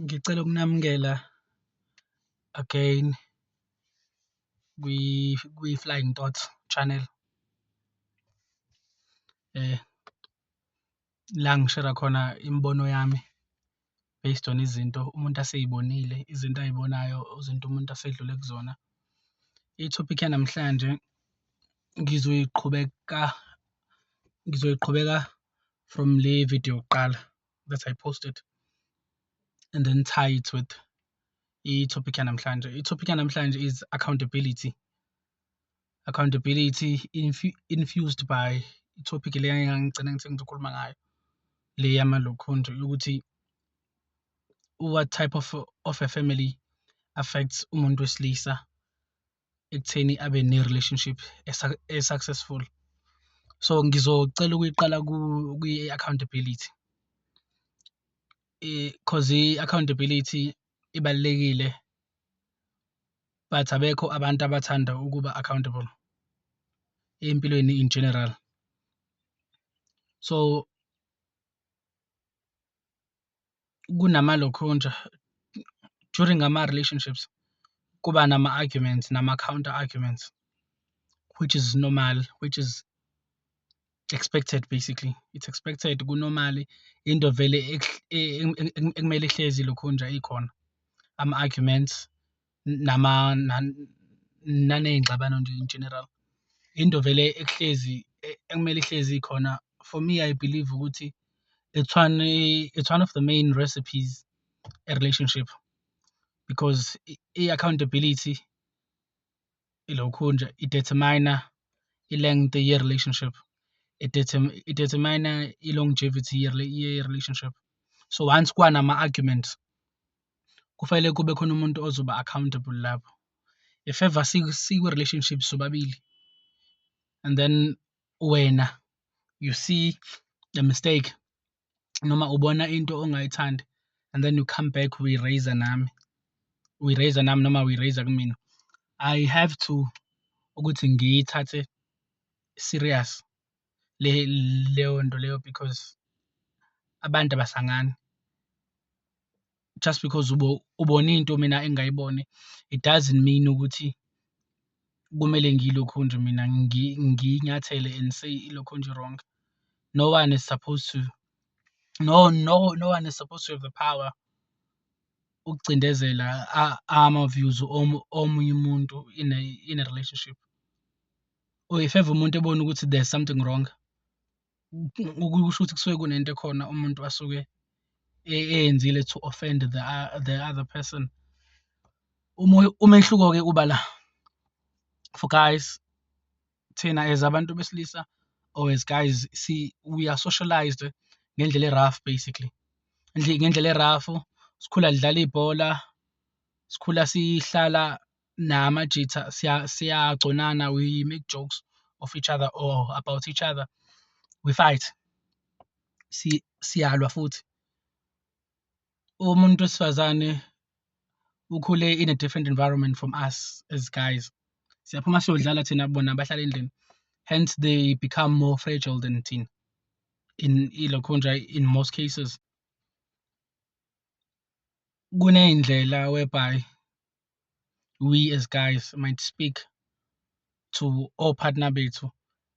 Ngicela ukunamukela again kwi-Flying Thoughts channel la ngishera khona imibono yami based on izinto umuntu aseyibonile, izinto ayibonayo, izinto umuntu asedlule kuzona. Ithophikhi yanamhlanje ngizoyiqhubeka ngizoyiqhubeka from le video yokuqala that I posted and then tie it with i-topic yanamhlanje i-topic yanamhlanje is accountability accountability infu infused by i-topic le engangigcina ngithi ngizokhuluma ngayo le yamalokhonjo yokuthi what type of, of a family affects umuntu wesilisa ekutheni abe ne-relationship e-successful so ngizocela ukuyiqala kwi-accountability because i-accountability ibalulekile but abekho abantu abathanda ukuba accountable empilweni in general so kunamalokhunja during ama-relationships kuba nama-arguments nama-counter arguments which is normal, which is expected basically, it's expected kunomali into vele ekumele ihlezi ilokhunja ikhona ama-arguments nama naney'ngxabano nje in general. Into vele ekuhlezi ekumele ihlezi ikhona for me I believe ukuthi it's one it's one of the main recipes a relationship because i-accountability ilokhu nje i-determine-a i-length ye-relationship i-determine-a i-longevity ye-relationship so once kwanama-arguments. kufanele kube khona umuntu ozoba accountable lapho if ever sikwi relationship sobabili and then wena you see the mistake noma ubona into ongayithandi and then you come back we raise nami we raise nami noma we raise kumina i have to ukuthi ngiyithathe serious. le leyo nto leyo because abantu abasangani. Just because ubone into mina engayiboni it doesn't mean ukuthi kumele ngilokhu nje mina ngiyinyathele and say ilokhu nje wrong. No one is supposed to no no no one is supposed to have the power ukucindezela ama-views omunye umuntu in a in a relationship. or if ever umuntu ebona ukuthi there's something wrong ukusho ukuthi kusuke kunento ekhona umuntu asuke e-, eyenzile to offend the, the other person umehluko-ke uba la for guys thina as abantu besilisa or as guys si we are socialized ngendlela e-rough basically ngendlela e-rough sikhula lidlala ibhola sikhula sihlala namajitha siyagconana we make jokes of each other or about each other we fight siyalwa futhi umuntu wesifazane ukhule in a different environment from us as guys siyaphuma siyodlala thina bona bahlala endlini hence they become more fragile than thina in ilokho nje in most cases kuney'ndlela whereby we as guys might speak to all partner bethu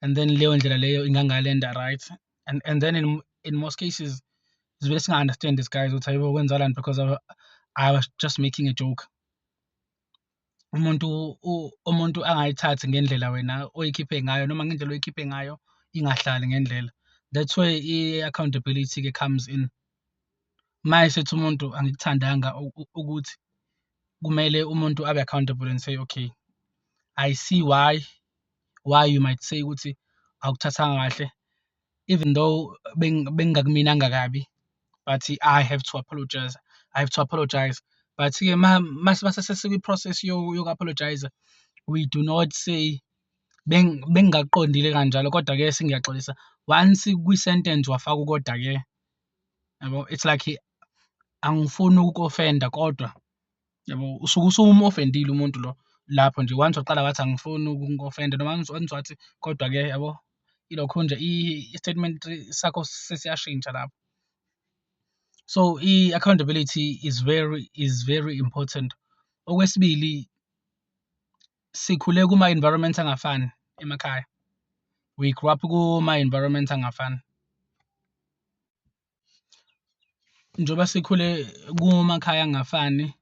and then leyo ndlela leyo ingangalenda right and, and then in, in most cases sivele singa-understand this guys ukuthi ayibo kwenzakalani because I, i was just making a joke umuntu umuntu angayithathi ngendlela wena oyikhiphe ngayo noma ngendlela oyikhiphe ngayo ingahlali ngendlela that's where i-accountability-ke comes in uma esethi umuntu angikuthandanga ukuthi kumele umuntu abe accountable and say okay i see why why you might say ukuthi awukuthathanga kahle even though bengingakuminanga kabi but i have to apologize i have to apologize but-ke masesikwi-process yoku-apologize we do not say bengingakuqondile kanjalo kodwa-ke sengiyaxolisa once kwi-sentence wafaka ukoda-ke yabo it's like angifuni ukukofenda kodwa yabo usuke usumofendile umuntu lo lapho nje once waqala wathi angifuni ukukofenda noma once wathi kodwa ke yabo ilokho nje i-statement sakho sesiyashintsha lapho so i-accountability is very is very important okwesibili sikhule kuma environment angafani emakhaya we grew up kuma environment angafani njengoba sikhule kumakhaya angafani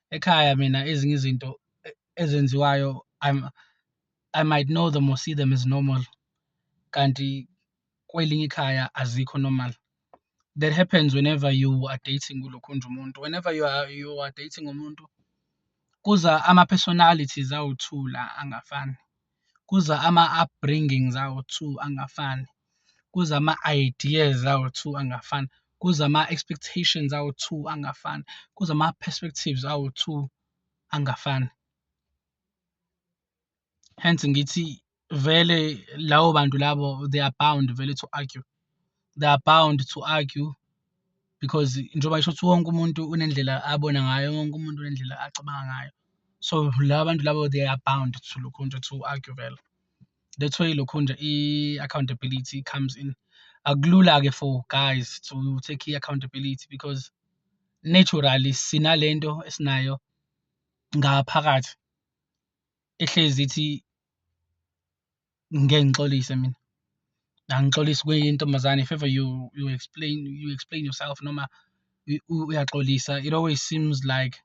ekhaya mina ezinye izinto e-, ezenziwayo I'm I might know them or see them as normal kanti kwelinye ikhaya azikho normal that happens whenever you are dating kulokhunja umuntu whenever you are, you are dating umuntu kuza ama-personalities awuthula angafani kuza ama-upbringings awu-two angafani kuza ama-ideas awu-two angafani kuza ama-expectations awu-two angafani kuza ama-perspectives awu-two angafani hence ngithi vele lawo bantu labo they are bound vele to argue they are bound to argue because njengoba isho ukuthi wonke umuntu unendlela abona ngayo wonke umuntu unendlela acabanga ngayo so laba bantu labo they are bound to lokhu nje to argue vele that's why lokhu nje i-accountability comes in akulula-ke for guys to take i-accountability because naturally sinalento esinayo ngaphakathi ehlezi ithi ngeke ngixolise mina angixolisi kuyintombazane if ever you you explain you explain yourself noma uyaxolisa it always seems like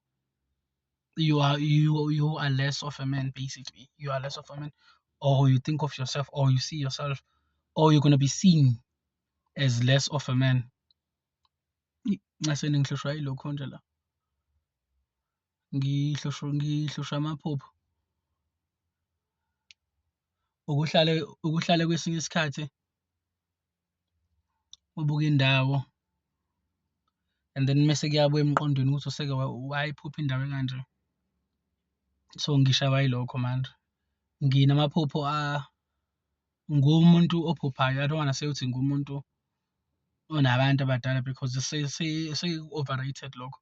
you are you you are less of a man basically you are less of a man or you think of yourself or you see yourself or you're going to be seen as less of a man nxeseni ngihlushwa yilokho nje la ngihlushwa amaphupho ukuhlale ukuhlale kwesinye isikhathi ubuke indawo and then mese kuyabuya emqondweni ukuthi useke wayiphupha indawo ekanje so ngishawa yilokho manje nginamaphupho a ngumuntu ophuphayo i don't wanna say ukuthi ngumuntu unabantu abadala because seku-overrated lokho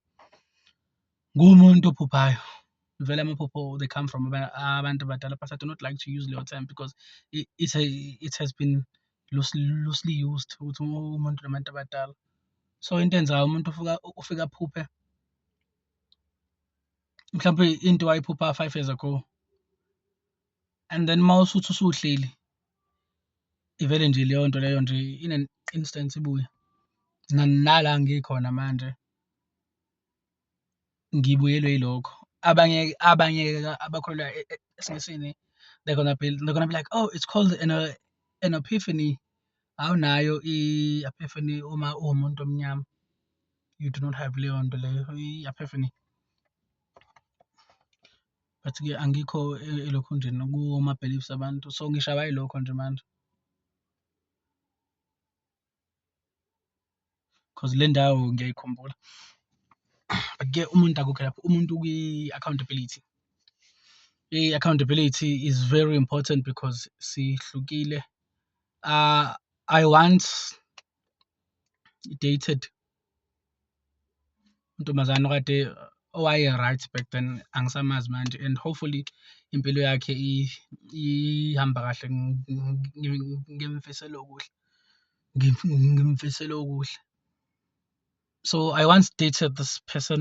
ngumuntu ophuphayo vele amaphupho they come from abantu abadala but i do not like to use leyo term because it, it, it has been loosely, loosely used ukuthi umuntu nabantu abadala so into enzayo umuntu ufika ufika aphuphe mhlawumbe into wayiphupha five years ago and then uma usuthi usuhleli ivele nje leyo nto leyo nje in an instance ibuye nala ngikhona manje ngibuyelwe yilokho abanye abanye abakholelwa e, e, esimisini they're gonna be they're gonna be like oh it's called an, an epiphany awunayo i-epiphany uma uwumuntu omnyama you do not have leyo nto leyo i-epiphany but-ke angikho elokhunjena kuma-beliefs abantu so ngishawa yilokho nje manje. Cause le ndawo ngiyayikhumbula but-ke umuntu akukho lapho umuntu kwi-accountability. I-accountability is very important because sihlukile I once dated untombazane okade owaye right back then angisamazi manje and hopefully impilo yakhe ihamba kahle ngimfisela okuhle ngimfisela okuhle so i once dated this person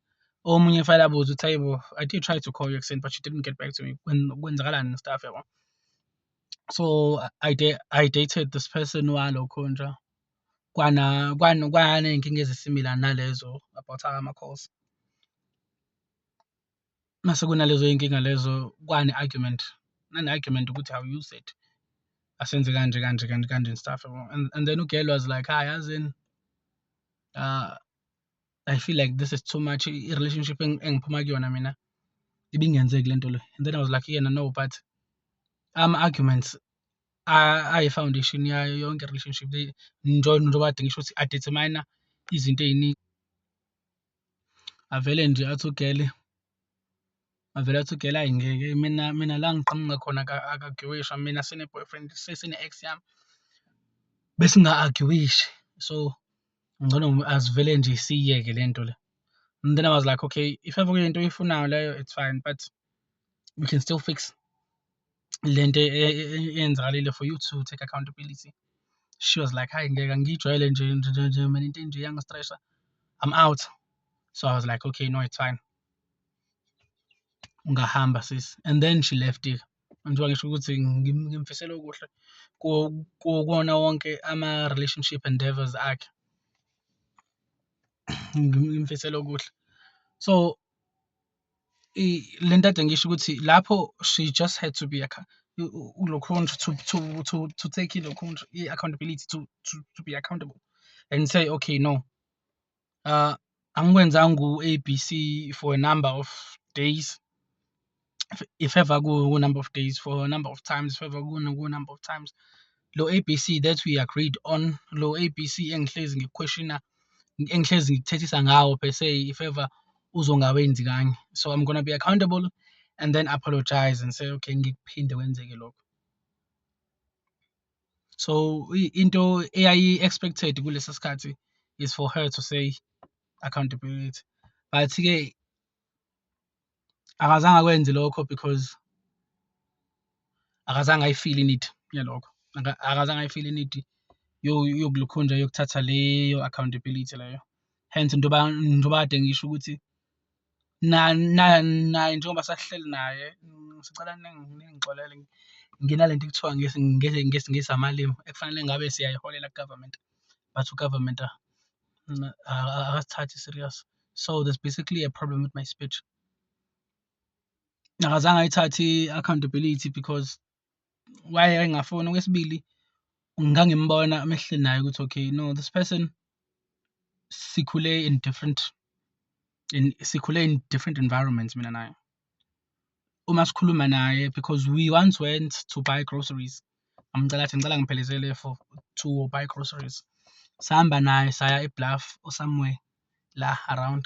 omunye efanele abuze ukuthi hayibo i did try to call you ekuseni but you didn't get back to me kwenzakalani nestaff yabo so i de i dated this person walokho nje kwana kwana kwana inkinga ezisimila nalezo about ama calls mase kunalezo inkinga lezo kwani argument nane argument ukuthi how you said asenze kanje kanje kanje kanje and stuff and, and then ugirl was like hi as in uh I feel like this is too much i-relationship engiphuma kuyona mina ibingenzeki le nto le and then I was like yena no but ama-arguments ayi-foundation yayo yonke i-relationship njengoba adinga isho ukuthi adetermine izinto ey'ningi avele nje athi ugele Avele athi ugela ayi ngeke mina mina la ngiqhamuka khona akagiwisha mina sine-boyfriend sesine-ex yami besinga-agiwishi so ngcono asivele nje siyiyeke le nto le and then I was like okay if ever kuyinto oyifunayo leyo it's fine but we can still fix le nto e, e, e, eyenzakalile for you to take accountability she was like hayi ngeke ngiyijwayele nje nje nje mina into enje yangistressha I'm out so I was like okay no it's fine ungahamba sisi and then she left it njengoba ngisho ukuthi ngimfisela okuhle kuwona wonke ama-relationship endeavors akhe ngimfisela okuhle so le nto ade ngisho ukuthi lapho she just had to be lokhondra to, to, to, to take ilokhondra i-accountability to, to, to be accountable and say okay no uh, angikwenzanga ku-abc for a number of days if ever ku-number of days for a number of times if ever ku-number of times lo abc that we agreed on lo abc engihlezi ngikweshina engihlezi ngikuthethisa ngawo per se if ever uzongawenzi kanye so i'm gonna be accountable and then apologize and say okay ngikuphinde kwenzeke lokho so into eyayi expected kulesi sikhathi is for her to say accountability but ke akazange akwenze lokho because akazange ayifeel inidi yalokho akazange ayifeel inidi yokulukhunja yokuthatha leyo accountability leyo hence njengoba kade ngisho ukuthi naye njengoba sahleli naye sicela ningixolele nginale nto ekuthiwa ngesiNgisi amalimi ekufanele ngabe siyayiholela ku-government but u-government akasithathi serious. So there's basically a problem with my speech. Akazange ayithathe i-accountability because why engafoni okwesibili ngangimbona amehle naye ukuthi okay no this person sikhule in different in sikhule in different environments mina naye uma sikhuluma naye because we once went to buy groceries amcela athi ngicela ngiphelezele for to buy groceries sahamba naye saya ebluff or somewhere la around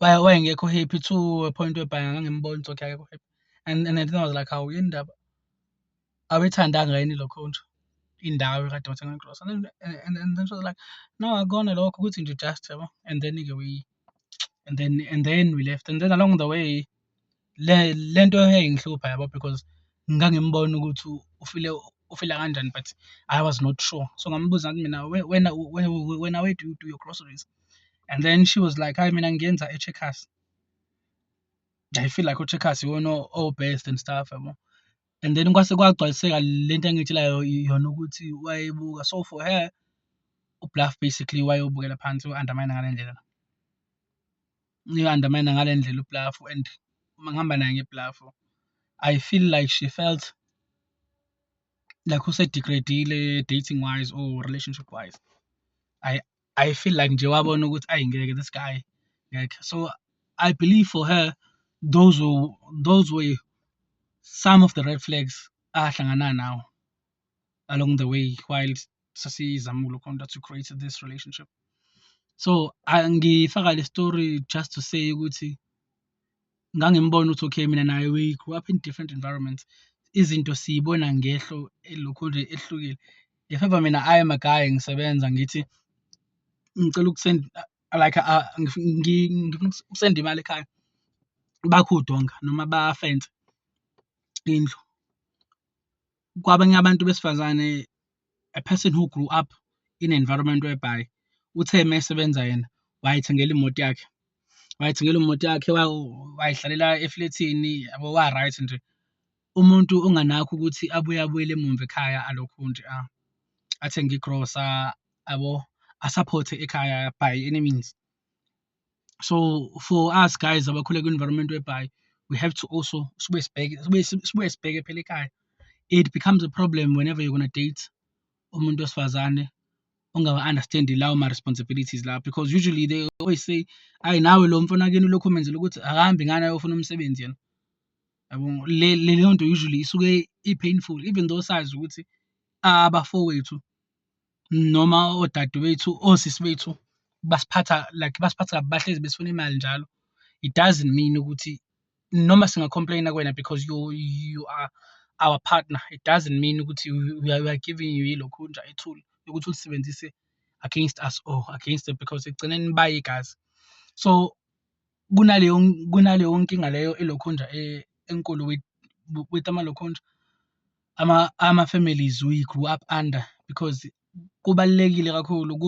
Why wayengekho happy to a point whereby ngangimbona ukuthi okay akekho happy. And and then I was like, hawu yini ndaba? Awuyithandanga yini lo country? Indawo ekade wathenga igrosa. And then and, and then she was like, no akona lokho ukuthi nje just yabo. And then ke we and then and then we left and then along the way Le le nto yayingihlupha yabo because ngangimbona ukuthi ufile ufila kanjani but I was not sure. So ngambuza ngathi mina "We- wena u- we- we- wena where do you do your groceries? And then she was like, hhayi mina ngiyenza e-Checkers. I feel like o-Checkers iwona o- o-best and stuff yabo. And then kwase kwagcwaliseka le nto engitshelayo i- yona ukuthi wayebuka. So for her, uBluff basically wayewubukela phansi u-undermine ngale ndlela. uyi-undermine ngale ndlela ublafu and uma ngihamba naye ngeblafu i feel like she felt like usedegradile dating wise or relationship wise i i feel like nje wabona ukuthi ayi ngeke this guy ngeke so i believe for her those were, those were some of the red flags ahlangana nawo along the way while sasizama ukulokhonta to create this relationship so angifaka le story just to say ukuthi ngangimbona ukuthi okay mina naye we grew up in different environments izinto siyibona ngehlo elokhu nje ehlukile if ever mina i am a guy ngisebenza ngithi ngicela ukusend like uh, ngifuna ukusenda imali ekhaya bakho udonga noma bafense indlu Kwabanye abantu besifazane, a person who grew up in an environment whereby uthe uma esebenza yena wayethengela imoto yakhe, wayethengela imoto yakhe, wayihlalela eflethini yabo wa-right nje. Umuntu onganakho ukuthi abuye abuyele emuva ekhaya alokhu nje athenge igrosa yabo, asaphothe ekhaya by any means. so for us guys abakhule kwi-environment whereby we have to also sibuye sibheke sibuye sibuye sibheke phela ekhaya it becomes a problem whenever you're gonna date umuntu wesifazane ongawa-understandi lawo ma-responsibilities lawo because usually they always say ayi nawe lo mfana kini ulokhu umenzela ukuthi akahambi ngani ayofuna umsebenzi yena yabo leyo nto usually isuke i-painful even though sazi ukuthi abafowethu noma odade bethu, osisi bethu basiphatha like basiphatha kabi bahlezi besifuna imali njalo. It doesn't mean ukuthi noma singa-complain-a kuwena because you you are our partner, it doesn't mean ukuthi we are giving you ilokhu nje ithuli lokuthi ulisebenzise against us or against them because ekugcineni bayigazi. So kunaleyo kunaleyo nkinga leyo elokhunja e, enkulu with with amalokhunja. ama ama families we grew up under because kubalekile kakhulu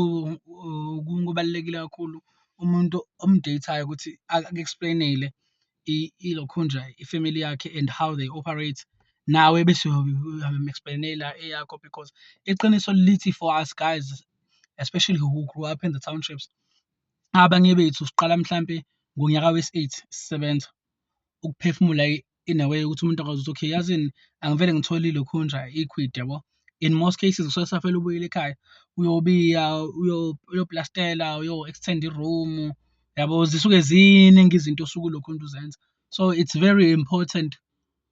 kubalekile kakhulu umuntu omdateayo ukuthi aku-explainele ilokhunja ifamily yakhe and how they operate nawe bese uyamu-explainela eyakho because iqiniso lithi for us guys especially who grew up in the townships abanye bethu siqala mhlampe ngonyaka wesi-8 sisebenza ukuphefumula in a way ukuthi umuntu akwazi ukuthi okay yazini angivele ngithole lokhu nje iquid yabo in most cases kusuke safela ubuyile ekhaya uyobiya uyoplastela uyo-extend i-room yabo zisuke ziningi izinto osuke ulokhu umuntu uzenza so it's very important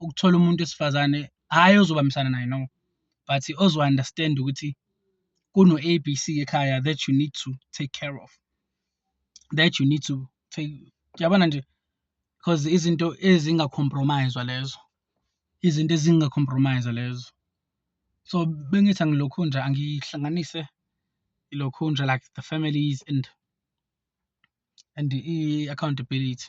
ukuthola umuntu wesifazane hhayi ozobambisana naye no but ozo-understand ukuthi kuno-A B C ekhaya that you need to take care of that you need to Yabona nje because izinto ezinga-compromise-wa lezo izinto ezinga-compromise lezo so bengithi angilokhu nje angihlanganise ilokhu nje like the families and and i-accountability.